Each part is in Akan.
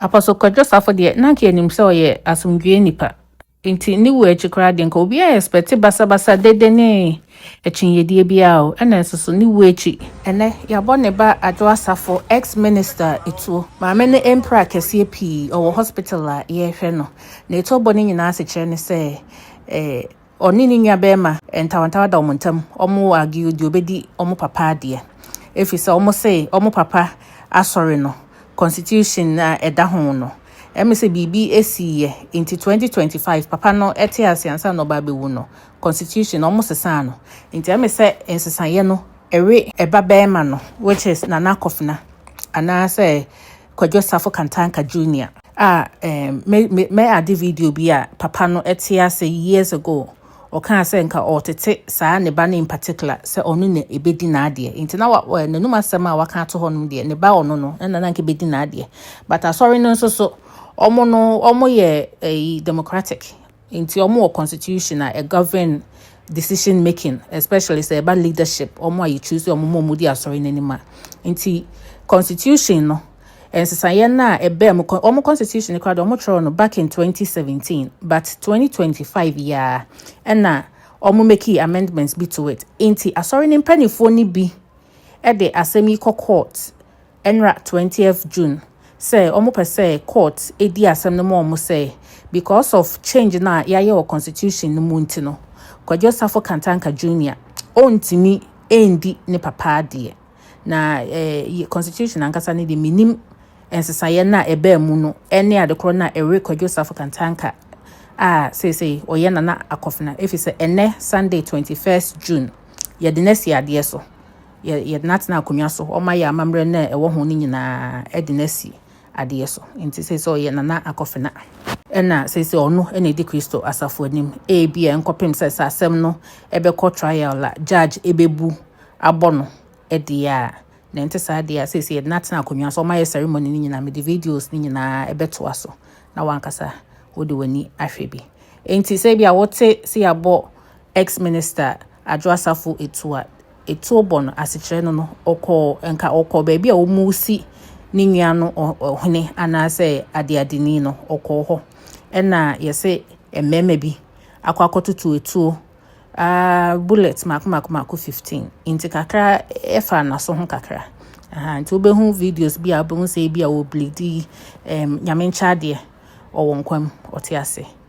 Apostle Kwadwo Safo deɛ, na anka yɛnim sɛ ɔyɛ asomdwoeɛ nipa. Nti ne wuo akyi koraa deɛ, nka obiara expect basabasa, dede ne akyinnyedie biara o. Ɛna nso so, ne wuo akyi, ɛnɛ yɛabɔ ne ba Adwo Asafo, ex-minister etuo. Maame no mpira akɛseɛ pii, ɔwɔ hospital a yɛrehwɛ no. Nea ɛtɔ bɔ no nyinaa asekyerɛ ne sɛ, eh, Ɔne ne nua bɛrima ntawantawa da wɔn ntam, wɔn argue deɛ ɔbɛdi wɔn papa adeɛ. Ɛfiri sɛ wɔn se wɔn papa asɔre no, constitution a ɛda ho no, ɛme sɛ biribi ɛsiiɛ, nti 2025 papa no ɛte ase ansa na ɔba abɛwu no, constitution no wɔn sesaa no. Nti ɛme sɛ nsesaeɛ no ɛwe ɛba bɛrima no, which is Nana Kofena, anaasɛ Kwadwo Safo Kantanka Junior. a um, me me me ade video bi a papa no ɛte ase years ago ɔkaa sɛ nka ɔtete saa ne ba no in particular sɛ ɔno na ebedi n'adeɛ nti na wa- wa- n'anum asɛm a waka ato hɔ nom deɛ ne ba ɔno no ɛna na nka ebedi n'adeɛ but asɔre no nso so ɔmo no ɔmo yɛ ɛyi democratic Nti wɔn wɔ constitution a ɛ govern decision making especially sɛ ɛba leadership wɔn a yɛ choose wɔn ma wɔn di asɔre n'anim a. Nti constitution no nsesaeɛ no a ɛbɛɛ mu wɔn constitution no koraa de wɔn twerɛ no back in 2017 but 2025 yi ara ɛna wɔn meki amendments bi to it. Nti asɔre no mpanimfoɔ no bi ɛde asɛm yi kɔ court Ɛnra twentieth June sɛ ɔmo pɛ sɛ court di asɛm no ma ɔmo sɛ because of change no a yayɛ wɔ constitution no mu nti no Kwadwo Safo Kantanka Junior ɔntumi ndi ne papa adeɛ na eh constitution ankasa no deɛ menim nsesaeɛ no a ɛbaa mu no ɛne adekorɔ no a ɛwe Kwadwo Safo Kantanka a seesei ɔyɛ Nana Akofena ɛfiri sɛ ɛnɛ Sunday twenty first June yɛde no asi adeɛ so yɛtenatena akonnwa so ɔma yɛ amammerɛ no a ɛwɔ ho no nyinaa de no asi adeɛ so nti sɛ sɛ ɔyɛ nana akɔfena ɛna sɛ sɛ ɔno ɛna ɛdi kristo asafo anim ebi a nkɔpem sɛ sɛ asɛm no ɛbɛkɔ trial la judge ɛbɛbu abɔ no ɛdeɛ a na ɛnte saa deɛ a sɛ sɛ yɛde no atena akonnwa so ɔma yɛ ceremony no nyinaa mede videos no nyinaa ɛbɛtoa so na wankasa wode w'ani ahwɛ bi nti sɛ bi a wote sɛ yɛabɔ ex minister adwo asafo etu a etuo bɔ no asekyerɛ no no, ɔkɔɔ nka ɔkɔɔ baabi a wɔresi ne nua no ɔhene anaasɛ adeadeni no, ɔkɔɔ hɔ. Ɛna yɛsɛ mmarima bi akɔ akɔtoto etuo uh, bullet mako mako mako 15 nti kakra ɛfa n'aso ho kakra aha nti wobɛhu videos bi a wobɛhu sɛ bi a wɔblidi um, nyame nkyɛ adeɛ ɔwɔ nkwam ɔte ase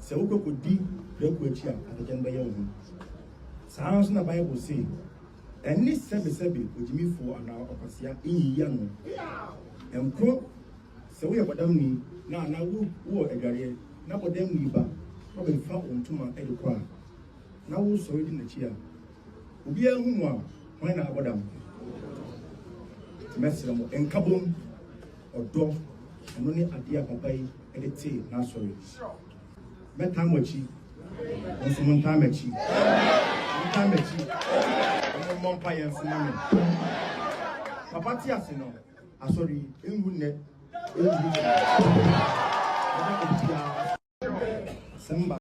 Sɛ wokɔ kodi prako akyi a, atɛkyɛ no bɛyɛ wo ho. Saa ara nso na Bible se, Ɛnne sɛbesɛbe ogyimifo anaa ɔkwasea nyiyi ano. Ɛnkɔ sɛ woyɛ bɔdamni na anaa wowɔ adwareɛ na bɔdamni ba na ɔbɛfa wo ntoma de kɔ a, na wosɔre di n'akyi a, obiara hu mo a, hwan na abɔ dam? Mɛsrɛ mo, nkabom, ɔdɔ, ɛno ne adeɛ a papa yi de tee n'asɔre. Mɛtan mo akyi, mo nso montan m'akyi. Montan m'akyi, na mommɔ mpaeɛ nso ma me. Papa te ase no, asɔre yi ɛnwu nnɛ, ɛnwu kyena. Yɛda obiara ase. Sɛ mba